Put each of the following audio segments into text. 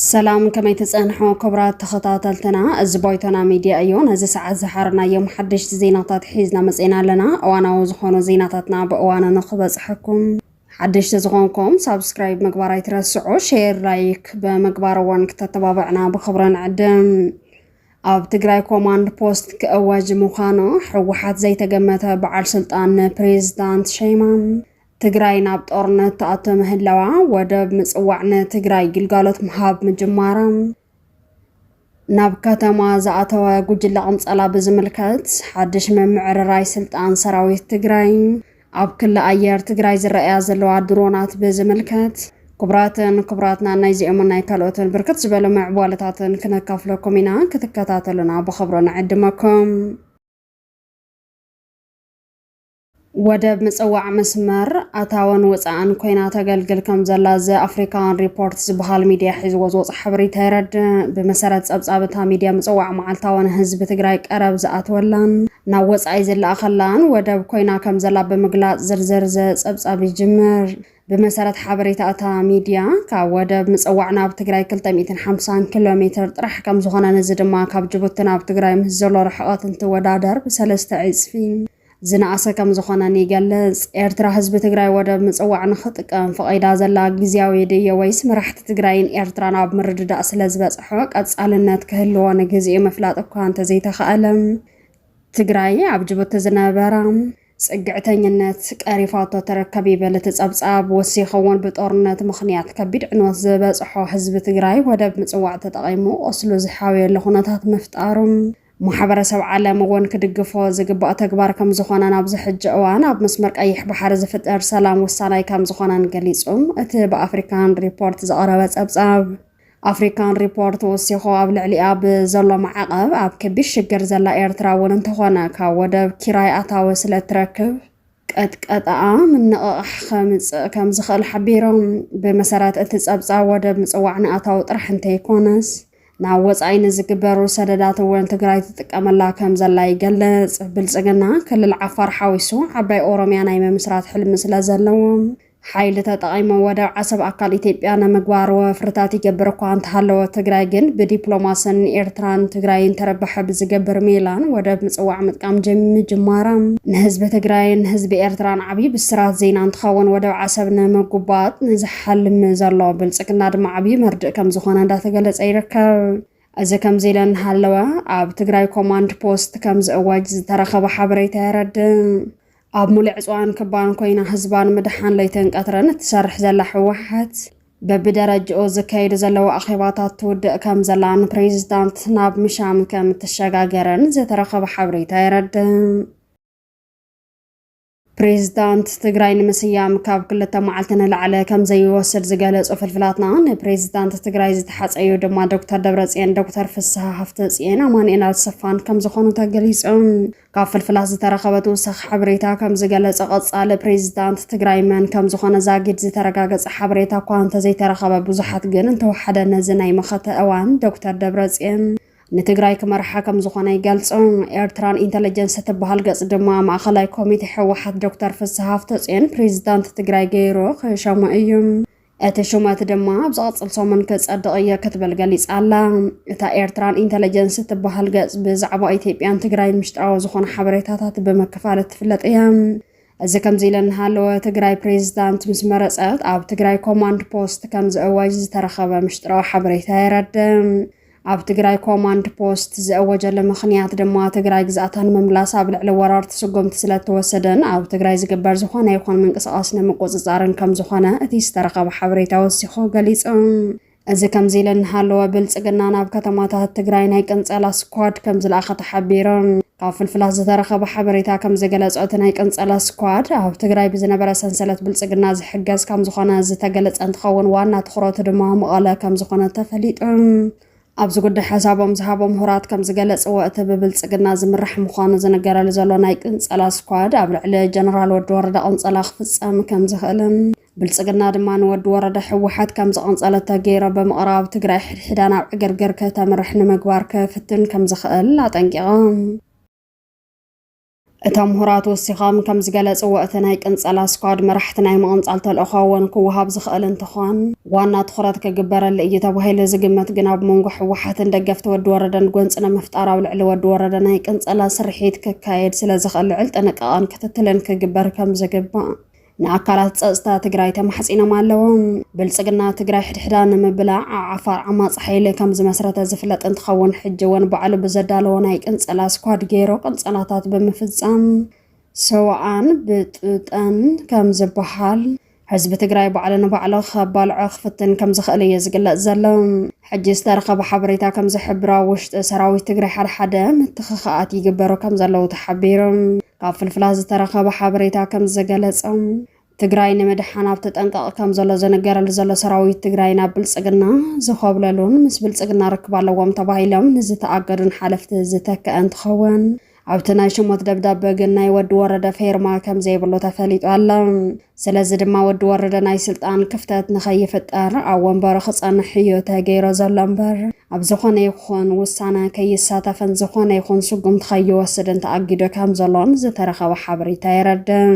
ሰላም ከመይ ትጸንሑ ክብራት ተኸታተልትና፣ እዚ ቦይቶና ሚድያ እዩ። ነዚ ሰዓት ዝሓርናዮም ሓደሽቲ ዜናታት ሒዝና መጺና ኣለና። እዋናዊ ዝኾኑ ዜናታትና ብእዋኑ ንኽበጽሐኩም ሓደሽቲ ዝኾንኩም ሳብስክራይብ ምግባር ኣይትረስዑ፣ ሼር ላይክ ብምግባር እውን ክተተባብዕና ብኽብሪ ንዕድም። ኣብ ትግራይ ኮማንድ ፖስት ክእወጅ ምዃኑ ሕወሓት ዘይተገመተ በዓል ስልጣን ንፕሬዝዳንት ሸይማም ትግራይ ናብ ጦርነት ተኣቶ ምህላዋ ወደብ ምጽዋዕ ንትግራይ ግልጋሎት ምሃብ ምጅማራ ናብ ከተማ ዝኣተወ ጉጅለ ቅንጸላ ብዝምልከት ሓድሽ ምምዕርራይ ስልጣን ሰራዊት ትግራይ ኣብ ክሊ ኣየር ትግራይ ዝረኣያ ዘለዋ ድሮናት ብዝምልከት። ክቡራትን ክቡራትናን ናይዚኦምን ናይ ካልኦትን ብርክት ዝበሉ ምዕቧለታትን ክነካፍለኩም ኢና፣ ክትከታተሉና ብኽብሪ ንዕድመኩም። ወደብ ምጽዋዕ መስመር ኣታወን ወጻእን ኮይና ተገልግል ከም ዘላ ዘ ኣፍሪካን ሪፖርት ዝበሃል ሚድያ ሒዝዎ ዝወፅ ሓበሬታ የረድእ። ብመሰረት ጸብጻብ እታ ሚድያ ምጽዋዕ መዓልታዊ ንህዝቢ ትግራይ ቀረብ ዝኣትወላን ናብ ወጻኢ ዝለኣኸላን ወደብ ኮይና ከምዘላ ብምግላጽ ዝርዝር ዘጸብጻብ ይጅምር። ብመሰረት ሓበሬታ እታ ሚድያ፣ ካብ ወደብ ምጽዋዕ ናብ ትግራይ ክልተ ሚእትን ሓምሳን ኪሎ ሜትር ጥራሕ ከምዝኾነን እዚ ድማ ካብ ጅቡቲ ናብ ትግራይ ምስ ዘሎ ርሕቐት እንትወዳደር ብሰለስተ ዕጽፊ ዝነኣሰ ከምዝኾነን ይገልጽ። ኤርትራ ህዝቢ ትግራይ ወደብ ምጽዋዕ ንኽጥቀም ፈቒዳ ዘላ ግዝያዊ ድየ ወይስ መራሕቲ ትግራይን ኤርትራን ኣብ ምርድዳእ ስለዝበጽሖ ቀጻልነት ክህልዎ ንግዚኡ ምፍላጥ እኳ እንተዘይተኻእለ ትግራይ ኣብ ጅቡቲ ዝነበራ ፅግዕተኝነት ቀሪፋቶ ትርከብ ይብል እቲ ፀብፃብ። ወሲኹ እውን ብጦርነት ምኽንያት ከቢድ ዕንወት ዝበፅሖ ህዝቢ ትግራይ ወደብ ምፅዋዕ ተጠቒሙ ቁስሉ ዝሓውየሉ ኩነታት ምፍጣሩ ማሕበረሰብ ዓለም እውን ክድግፎ ዝግባእ ተግባር ከምዝኾነን ኣብዚ ሕጂ እዋን ኣብ መስመር ቀይሕ ባሕሪ ዝፍጠር ሰላም ወሳናይ ከምዝኾነን ገሊፁ እቲ ብኣፍሪካን ሪፖርት ዝቐረበ ፀብፃብ። ኣፍሪካን ሪፖርት ወሲኹ ኣብ ልዕሊኣ ብዘሎ ማዕቐብ ኣብ ከቢድ ሽግር ዘላ ኤርትራ እውን እንተኾነ ካብ ወደብ ኪራይ ኣታዊ ስለ እትረክብ ቀጥቀጠኣ ምንቕቓሕ ከምፅእ ከም ዝኽእል ሓቢሮም። ብመሰረት እቲ ጸብጻብ ወደብ ምጽዋዕ ንኣታዊ ጥራሕ እንተይኮነስ ናብ ወጻኢ ንዝግበሩ ሰደዳት እውን ትግራይ ትጥቀመላ ከም ዘላ ይገልጽ። ብልጽግና ክልል ዓፋር ሓዊሱ ዓባይ ኦሮሚያ ናይ ምምስራት ሕልሚ ስለ ዘለዎም ሓይሊ ተጠቒሞም ወደብ ዓሰብ ኣካል ኢትዮጵያ ንምግባር ወፍርታት ይገብር እኳ እንተሃለወ፣ ትግራይ ግን ብዲፕሎማስን ንኤርትራን ትግራይን ተረባሒ ብዝገብር ሜላን ወደብ ምጽዋዕ ምጥቃም ምጅማራ፣ ንህዝቢ ትግራይን ህዝቢ ኤርትራን ዓብዪ ብስራት ዜና እንትኸውን፣ ወደብ ዓሰብ ንምጉባጥ ንዝሓልም ዘሎ ብልጽግና ድማ ዓብዪ መርድእ ከምዝኾነ እንዳተገለጸ ይርከብ። እዚ ከምዚ ኢለ እናሃለወ፣ ኣብ ትግራይ ኮማንድ ፖስት ከምዝእወጅ ዝተረኸበ ሓበሬታ የረድእ። ኣብ ሙሉዕ ዕፅዋን ክባን ኮይና ህዝባ ንምድሓን ለይትን ቀትርን እትሰርሕ ዘላ ህወሓት በብደረጅኡ ዝካየዱ ዘለዉ ኣኼባታት ትውድእ ከም ዘላን ፕሬዚዳንት ናብ ምሻም ከም እትሸጋገርን ዝተረኸበ ሓበሬታ የረድእ። ፕሬዚዳንት ትግራይ ንምስያም ካብ ክልተ መዓልቲ ንላዕለ ከም ዘይወስድ ዝገለጹ ፍልፍላትና ንፕሬዚዳንት ትግራይ ዝተሓፀዩ ድማ ዶክተር ደብረፅዮን፣ ዶክተር ፍስሃ ሃፍተፅዮን፣ ኣማኑኤል ኣሰፋን ከም ዝኾኑ ተገሊፆም። ካብ ፍልፍላት ዝተረኸበ ተወሳኺ ሓበሬታ ከም ዝገለጸ ቀጻሊ ፕሬዚዳንት ትግራይ መን ከም ዝኾነ ዛጊድ ዝተረጋገጸ ሓበሬታ እኳ እንተዘይተረኸበ ብዙሓት ግን እንተወሓደ ነዚ ናይ መኸተ እዋን ዶክተር ደብረጽዮን ንትግራይ ክመርሓ ከም ዝኾነ ይገልጹ። ኤርትራን ኢንተለጀንስ እትበሃል ገጽ ድማ ማእኸላይ ኮሚቴ ህወሓት ዶክተር ፍስሃ ሃፍተጽዮን ፕሬዚዳንት ትግራይ ገይሩ ክሸሞ እዩ። እቲ ሹመት ድማ ኣብ ዝቐፅል ሰሙን ክፀድቕ እየ ክትብል ገሊፃ ኣላ። እታ ኤርትራን ኢንተለጀንስ እትበሃል ገፅ ብዛዕባ ኢትዮጵያን ትግራይ ምሽጥራዊ ዝኾኑ ሓበሬታታት ብምክፋል እትፍለጥ እያ። እዚ ከምዚ ኢለ እናሃለወ ትግራይ ፕሬዚዳንት ምስ መረፀት ኣብ ትግራይ ኮማንድ ፖስት ከም ዝእወጅ ዝተረኸበ ምሽጥራዊ ሓበሬታ የረድእ። ኣብ ትግራይ ኮማንድ ፖስት ዝእወጀሉ ምኽንያት ድማ ትግራይ ግዝኣታ ንምምላስ ኣብ ልዕሊ ወራርቲ ስጉምቲ ስለእተወሰደን ኣብ ትግራይ ዝግበር ዝኾነ ይኹን ምንቅስቓስ ንምቁፅፃርን ከምዝኾነ እቲ ዝተረኸበ ሓበሬታ ወሲኹ ገሊፁ። እዚ ከምዚ ኢለ እናሃለወ ብልፅግና ናብ ከተማታት ትግራይ ናይ ቅንፀላ ስኳድ ከምዝለኣኸ ተሓቢሩ። ካብ ፍልፍላት ዝተረኸበ ሓበሬታ ከም ዝገለጾ እቲ ናይ ቅንጸላ ስኳድ ኣብ ትግራይ ብዝነበረ ሰንሰለት ብልጽግና ዝሕገዝ ከም ዝኾነ ዝተገለጸ እንትኸውን ዋና ትኹረቱ ድማ መቐለ ከም ዝኾነ ተፈሊጡ። ኣብዚ ጉዳይ ሓሳቦም ዝሃቦ ምሁራት ከም ዝገለጽዎ እቲ ብብልጽግና ዝምራሕ ምዃኑ ዝንገረሉ ዘሎ ናይ ቅንጸላ ስኳድ ኣብ ልዕሊ ጀነራል ወዲ ወረደ ቅንጸላ ክፍጸም ከም ዝኽእልን ብልፅግና ድማ ንወዲ ወረደ ሕወሓት ከም ዝቐንፀለተ ገይሮ ብምቕራብ ትግራይ ሕድሕዳ ናብ ዕግርግር ከተምርሕ ንምግባር ክፍትን ከም ዝኽእል ኣጠንቂቖም። እቶም ምሁራት ወሲኾም ከም ዝገለፅዎ እቲ ናይ ቅንፀላ ስኳድ መራሕቲ ናይ ምቕንፃል ተልእኾ እውን ክወሃብ ዝኽእል እንትኾን ዋና ትኹረት ክግበረሉ እዩ ተባሂሉ ዝግመት ግን ኣብ መንጎ ሕወሓትን ደገፍቲ ወዲ ወረደን ጎንፂ ንምፍጣር ኣብ ልዕሊ ወዲ ወረደ ናይ ቅንፀላ ስርሒት ክካየድ ስለ ዝኽእል ልዕል ጥንቃቐን ክትትልን ክግበር ከም ዝግባእ ንኣካላት ፀፅታ ትግራይ ተማሕፂኖም ኣለው። ብልፅግና ትግራይ ሕድሕዳ ንምብላዕ ኣብ ዓፋር ዓማፂ ሓይሊ ከምዝመስረተ ዝፍለጥ እንትኸውን ሕጂ እውን ባዕሉ ብዘዳለዎ ናይ ቅንፀላ ስኳድ ገይሩ ቅንፀላታት ብምፍፃም ሰውኣን ብጥብጠን ከምዝበሃል ህዝቢ ትግራይ ባዕሉ ንባዕሉ ከባልዖ ክፍትን ከምዝኽእል እዩ ዝግለጽ ዘሎ። ሕጂ ዝተረኸበ ሓበሬታ ከምዝሕብሮ ኣብ ውሽጢ ሰራዊት ትግራይ ሓደሓደ ምትኽኻኣት ይግበሩ ከምዘለዉ ተሓቢሩ። ካብ ፍልፍላት ዝተረኸበ ሓበሬታ ከምዝገለፀ ትግራይ ንምድሓን ኣብ ተጠንቀቕ ከም ዘሎ ዝንገረሉ ዘሎ ሰራዊት ትግራይ ናብ ብልፅግና ዝኾብለሉን ምስ ብልፅግና ርክብ ኣለዎም ተባሂሎም ንዝተኣገዱን ሓለፍቲ ዝተከአ እንትኸውን ኣብቲ ናይ ሽሞት ደብዳበ ግን ናይ ወዲ ወረደ ፌርማ ከም ዘይብሉ ተፈሊጡ ኣሎ። ስለዚ ድማ ወዲ ወረደ ናይ ስልጣን ክፍተት ንኸይፍጠር ኣብ ወንበሩ ክጸንሕ እዩ ተገይሮ ዘሎ እምበር ኣብ ዝኾነ ይኹን ውሳነ ከይሳተፍን ዝኾነ ይኹን ስጉምቲ ከይወስድን ተኣጊዶ ከም ዘሎን ዝተረኸበ ሓበሬታ የረድእ።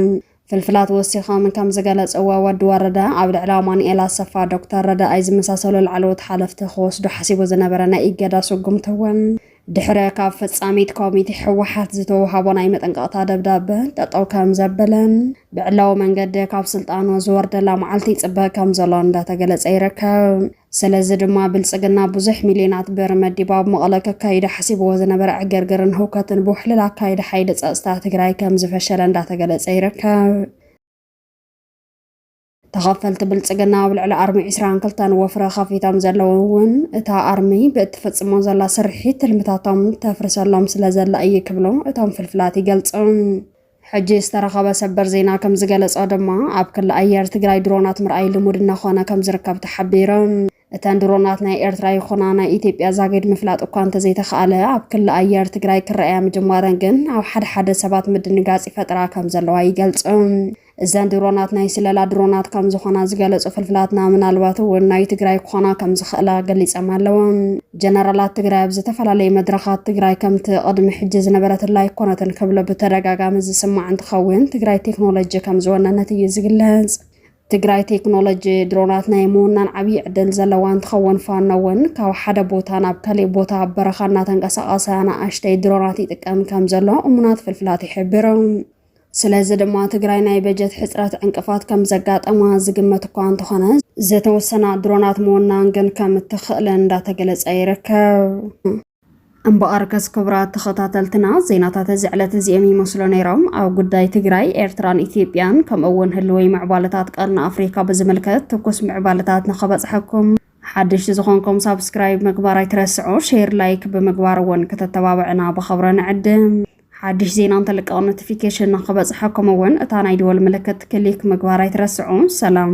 ፍልፍላት ወሲኾም ከም ዝገለጽዎ ወዲ ወረደ ኣብ ልዕሊ ኣማኑኤል ኣሰፋ፣ ዶክተር ረዳኣይ ዝመሳሰሉ ላዕለዎት ሓለፍቲ ክወስዱ ሓሲቡ ዝነበረ ናይ እገዳ ስጉምቲ እውን ድሕረ ካብ ፈጻሚት ኮሚቴ ህወሓት ዝተውሃቦ ናይ መጠንቀቕታ ደብዳበ ጠጠው ከም ዘበለን ብዕላዊ መንገዲ ካብ ስልጣኑ ዝወርደላ መዓልቲ ይፅበ ከም ዘሎ እንዳተገለጸ ይርከብ። ስለዚ ድማ ብልጽግና ብዙሕ ሚልዮናት ብር መዲባ ኣብ መቐለ ከካይዶ ሓሲብዎ ዝነበረ ዕግርግርን ህውከትን ብውሕልል ኣካይዲ ሓይሊ ጸጥታ ትግራይ ከም ዝፈሸለ እንዳተገለጸ ይርከብ። ተኸፈልቲ ብልፅግና ኣብ ልዕሊ ኣርሚ 22 ወፍረ ከፊቶም ዘለዉ እውን እታ ኣርሚ ብእትፍፅሞ ዘላ ስርሒት ትልምታቶም ተፍርሰሎም ስለ ዘላ እዩ ክብሉ እቶም ፍልፍላት ይገልፁ። ሕጂ ዝተረኸበ ሰበር ዜና ከም ዝገለፆ ድማ ኣብ ክሊ ኣየር ትግራይ ድሮናት ምርኣይ ልሙድ እናኾነ ከም ዝርከብ ተሓቢሩ። እተን ድሮናት ናይ ኤርትራ ይኹና ናይ ኢትዮጵያ ዛጊድ ምፍላጥ እኳ እንተዘይተኻእለ ኣብ ክሊ ኣየር ትግራይ ክረኣያ ምጅማረን ግን ኣብ ሓደ ሓደ ሰባት ምድንጋጽ ይፈጥራ ከም ዘለዋ ይገልጹ። እዘን ድሮናት ናይ ስለላ ድሮናት ከም ዝኾና ዝገለጹ ፍልፍላትና ምናልባት እውን ናይ ትግራይ ክኾና ከም ዝኽእላ ገሊጸም ኣለዉ። ጀነራላት ትግራይ ኣብ ዝተፈላለዩ መድረኻት ትግራይ ከምቲ ቅድሚ ሕጂ ዝነበረትላ ኣይኮነትን ክብሎ ብተደጋጋሚ ዝስማዕ እንትኸውን ትግራይ ቴክኖሎጂ ከም ዝወነነት እዩ ዝግለጽ። ትግራይ ቴክኖሎጂ ድሮናት ናይ ምውናን ዓብዪ ዕድል ዘለዋ እንትኸውን ፋኖ እውን ካብ ሓደ ቦታ ናብ ካሊእ ቦታ ኣብ በረኻ እናተንቀሳቐሰ ኣናእሽተይ ድሮናት ይጥቀም ከም ዘሎ እሙናት ፍልፍላት ይሕብሩ። ስለዚ ድማ ትግራይ ናይ በጀት ሕፅረት ዕንቅፋት ከም ዘጋጠማ ዝግመት እኳ እንተኾነ ዝተወሰና ድሮናት ምውናን ግን ከም እትኽእል እንዳተገለፀ ይርከብ። እምበኣርከስ ክቡራት ተኸታተልትና ዜናታት እዚ ዕለት እዚኦም ይመስሉ ነይሮም። ኣብ ጉዳይ ትግራይ፣ ኤርትራን ኢትዮጵያን ከምኡ እውን ህልወይ ምዕባለታት ቀርኒ ኣፍሪካ ብዝምልከት ትኩስ ምዕባለታት ንኸበፅሐኩም ሓደሽቲ ዝኾንኩም ሳብስክራይብ ምግባር ኣይትረስዑ፣ ሼር ላይክ ብምግባር እውን ከተተባብዕና ብኸብረ ንዕድም። ሓድሽ ዜና እንተልቀቕ ኖቲፊኬሽን ንኽበፅሐኩም እውን እታ ናይ ደወል ምልክት ክሊክ ምግባር ኣይትረስዑ። ሰላም።